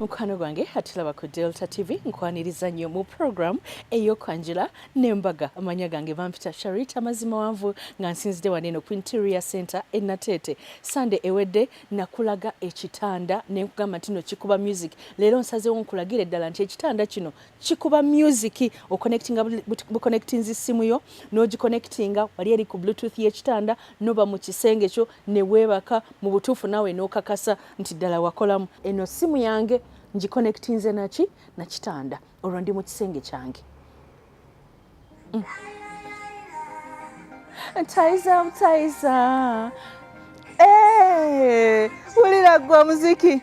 mukwano gwange atulaba ku delta tv nkwaniriza nnyo mu programu eyokwanjula nembaga amanya gange bampita sharita mazima wanvu nga nsinzidde waneeno ku interior center enateete sande ewedde nakulaga ekitanda nenkugamba ntino kikuba music leero nsazewo nkulagira eddala nti ekitanda kino kikuba music oconnectinga buconnectinzi simu yo nogiconnectinga wali eri ku bluetooth yekitanda noba mu kisenge kyo ne weebaka mu butuufu naawe n'okakasa nti ddala wakolamu. Eno ssimu yange ngikonekitinze naki na kitanda olwo ndi mu kisenge kyange. Mm. Taiza butaiza. Hey, eh, wulira gwe omuziki.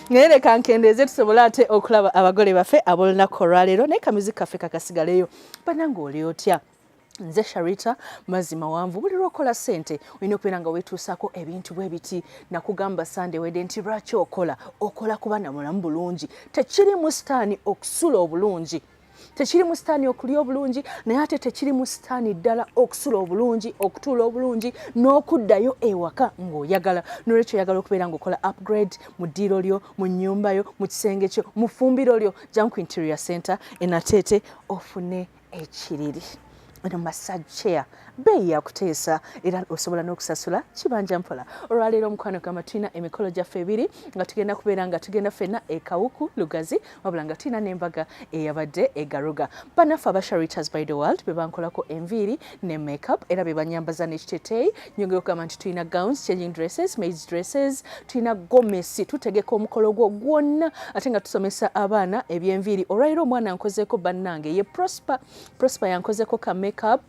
naye leka nkendeeze tusobole ate okulaba abagole baffe ab'olunaku olwaleero naye kamizi kaffe kakasigaleyo banange oli otya nze sharita mazzi mawanvu buli lwokola sente olina okubeera nga wetuusako ebintu bwe biti nakugamba sande wede nti lwaki okola okola kuba namulamu bulungi tekirimu sitaani okusula obulungi tekiri mu sitaani okulya obulungi naye ate tekiri mu sitaani ddala okusula obulungi okutuula obulungi n'okuddayo ewaka ng'oyagala nolwekyo oyagala okubeera ng'okola upgrade mu ddiiro lyo mu nnyumba yo mu kisenge kyo mu ffumbiro lyo janku interior center enateete ofune ekiriri eno massage chair beeyi yakuteesa era osobola n'okusasula kibanja mpola olwaleero omukwano gamba tulina emikolo gyaffe ebiri nga tugenda kubeera nga tugenda fenna ekawuku lugazi wabula nga tulina n'embaga eyabadde egaruga banaffe aba sharitas by the world be bankolako enviiri ne makeup era be banyambaza n'ekiteteeyi nyongera okugamba nti tulina gowns changing dresses maids dresses tulina gomesi tutegeka omukolo gwo gwonna ate nga tusomesa abaana ebyenviiri olwaleero omwana nkozeeko bannange ye prosper Prosper yankozeko ka makeup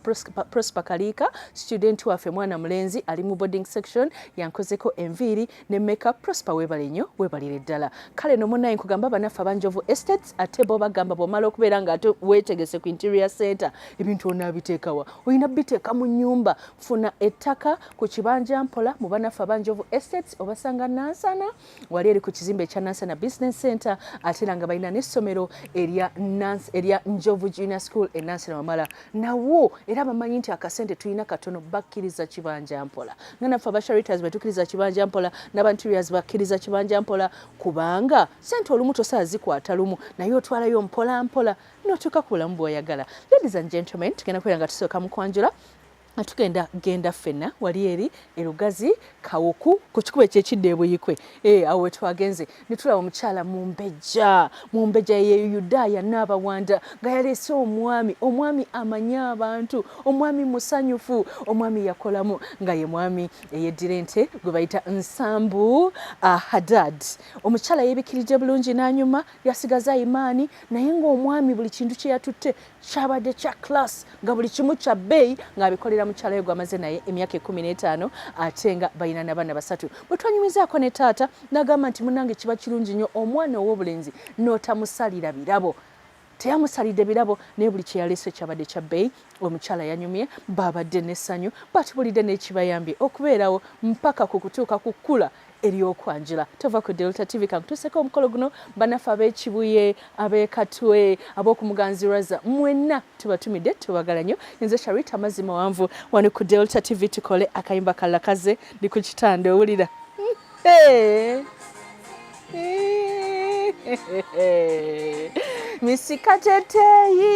Prosper Kaliika student waffe mwana mulenzi ali mu boarding section yankozeko enviiri ne makeup Prosper webale nnyo webalire ddala kale no munaye nkugamba banaffe abanjovu estates ate bo bagamba bwomala okubeera nga ate wetegese ku interior center ebintu onaabiteekawa olina biteeka mu nyumba funa ettaka ku kibanja mpola mu banaffe abanjovu estates obasanga nansana wali eri ku kizimbe ekya Nansana Business Center ate era nga balina n'essomero erya erya Njovu Junior School e Nansana Wamala nawo era bamanyi nti akasente tulina katono bakkiriza kibanja mpola nga naffe aba Charitas betukiriza kibanja mpola n'abanteriors bakkiriza kibanja mpola kubanga sente olumu tosaa zikwata lumu naye otwalayo mpola mpola n'otuuka ku bulamu bw'oyagala ladies and gentlemen tugenda kubeera nga tusooka mu kwanjula nga tugenda genda ffenna wali eri erugazi kawuku ku kikuba ekyekidda ebuyikwe eh, awo wetwagenze netulaba omukyala mumbejja mumbejja ye yudaaya naabawanda nga yaleese omwami omwami amanye abantu omwami musanyufu omwami yakolamu nga ye mwami eyeddira ente gwe bayita nsambu ah, hadad omukyala yebikiridde bulungi nanyuma yasigaza imaani naye ngaomwami buli kintu kyeyatutte kyabadde kya class nga buli kimu kya bbeeyi ng'abikolera mukyalayo gwamaze naye emyaka ekumi n'etaano ate nga balina nabaana basatu bwe twanyumizaako ne taata n'agamba nti munange kiba kirungi nnyo omwana ow'obulenzi n'otamusalira birabo teyamusalidde birabo naye buli kyeyaleese kyabadde kya bbeeyi omukyala yanyumye baabadde n'essanyu batubulidde n'ekibayambye okubeerawo mpaka ku kutuuka ku kkula eryokwanjula tova ku delta tv kankutuseko omukolo guno banaffe abekibuye abekatwe abokumuganzi raza mwenna tubatumidde tubagala nyo nze sharita amazzi mawanvu wano ku delta tv tukole akayimba kalakaze ndi ku kitanda owulira misika teteyi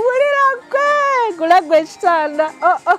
wulira gwe gulagwe ekitanda oh, oh.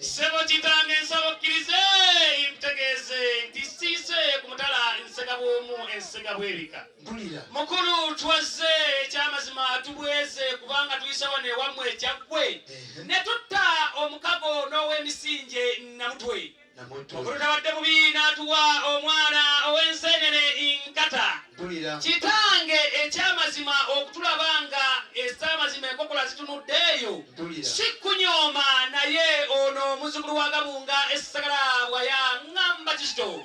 Ssebo kitange nsaba okkirize ntegeeze nti siise ku mutala nsega bw'omu ensega bw'ebika mukulu twazze ekyamazima tubweze kubanga tuyise wano ewammwe ekyaggwe ne tutta omukago n'ow'emisinje namutwe mukulu tabadde bubi n'atuwa omwana ow'enseenene nkata kitange ekyamazima okutulaba nga ezamazima enkokola zitunudde eyo si kunyooma naye ono omuzukulu wa gabunga esagala bwaya ngamba kizito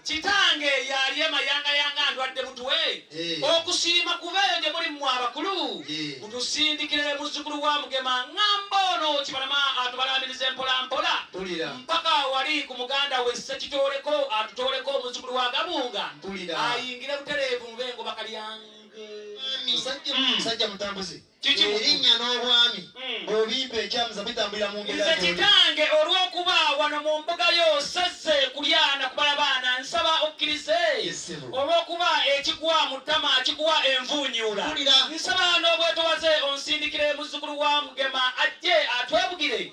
kitange yali emayangayanga ndwadde mutwe eh. okusiima kubeeyo gye muli mwe abakulu eh. mutusindikire muzukulu wa mugema ngamba ono kibalama atubalamiriza empolampola mpaka wali ku muganda we sekitooleko atutooleko omuzukulu wa gabunga ayingire butereevu mu bengoba kalyange musajja mm. mutambuzi erinnya n'obwami mm. obimpa ekyamuza bitambulira mu nze kitange olw'okuba wano mu mbuga yo sazze kulyana kubala baana nsaba okkirize olw'okuba ekigwa mu ttama kigwa envuunyuula nsaba n'obwetowaze onsindikire muzzukulu wa mugema ajje atwebugire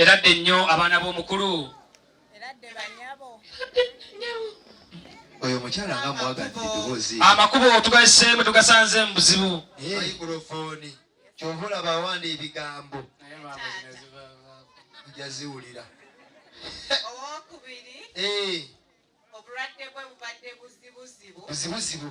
era dde nnyo abaana b'omukulu oyo omukyala nga mwagadde eddoboozi amakubo tugaseemu tugasanze mu buzibu mayikulofoni kyova olaba awanda ebigambo jaziwulira owokubiri eh. obulwadde bwe bubadde buzibuzibu buzibuzibu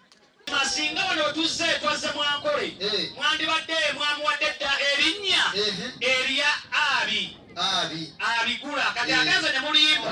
Masinga wano otuzze twazze mwankole eh. mwandibadde mwamuwadde dda erinnya eh. erya abi abi abigula kati eh. agenze ne mulimba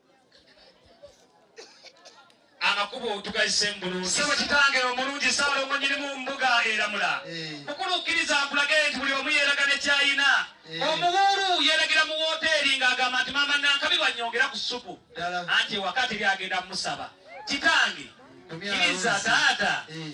amakubo otugazise mbulungisebo kitange omulungi saala omwenyini mu mbuga eramula eh. mukulukkiriza akulage nti buli omu yeraga nekyayina eh. omuwuulu yeragira mu woteeri ng'agamba nti maama nankabi banyongera ku supu anti ewakati byagenda musaba kitange kiriza taata eh.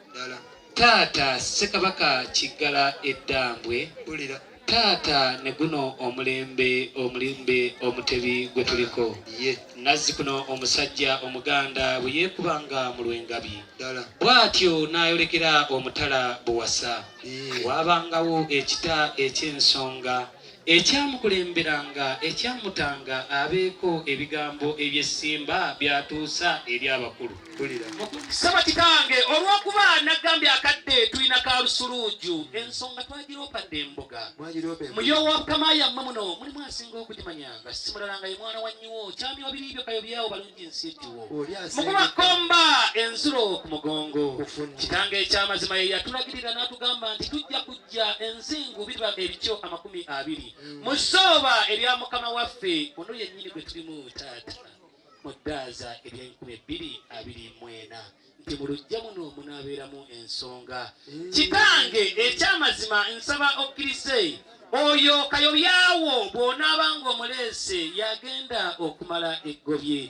taata ssekabaka kiggala eddambwe taata ne guno omulembe omulimbe omutebi gwe tuliko nazzi kuno omusajja omuganda bwe yeekubanga mu lwengabi bw'atyo n'ayolekera omutala buwasa waabangawo ekita eky'ensonga Ekyamukulemberanga, ekyamutanga abeeko ebigambo eby'essimba by'atuusa eri abakulu. Saba kitange olw'okuba nagambye akadde tulina ka lusuluuju ensonga twagiroopadde embuga muyoowa bukama yammwe muno mulimu asinga okugimanya nga simulala nga ye mwana wa nyiwo kyami wabiri byo kayobyawo balungi nsi ekiwo mukuba komba enzulo ku mugongo kitange ekyamazima ye yatulagirira n'atugamba nti tujja kujja bya enzingu biba ebikyo amakumi abiri mm. mu ssooba erya mukama waffe ono yennyini gwe tulimu taata mu ddaaza ery'enkumi ebbiri abiri mwena nti mu lujja muno munaabeeramu ensonga mm. kitange eky'amazima nsaba okkirize oyo kayobyawo bw'onaaba ng'omuleese yagenda okumala eggobye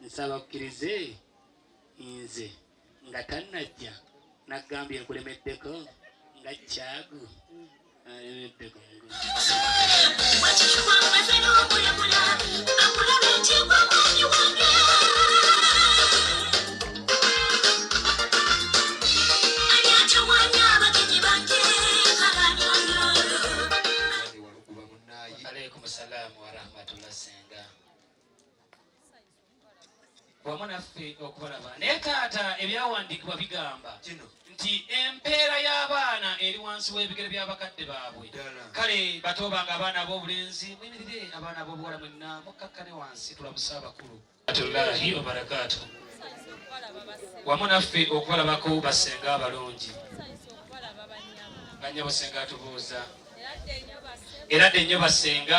nsaba okkirize nze nga tannajja naggambye nkulemeddeko nga kyagu alemeddeko wamu naffe okubalaba naye taata ebyawandiikibwa bigamba nti empeera y'abaana eri wansi w'ebigere by'abakadde baabwe kale batoobanga abaana ab'obulenzi muyimirire abaana ab'obuwala mwenna mukkakkane wansi tulabuse abakulu atullahi wabarakaatu wamu naffe okubalabako basenga abalungi banyabo senga atubuuza era dde nnyo basenga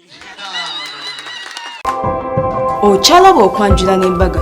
okyalaba okwanjula n'embaga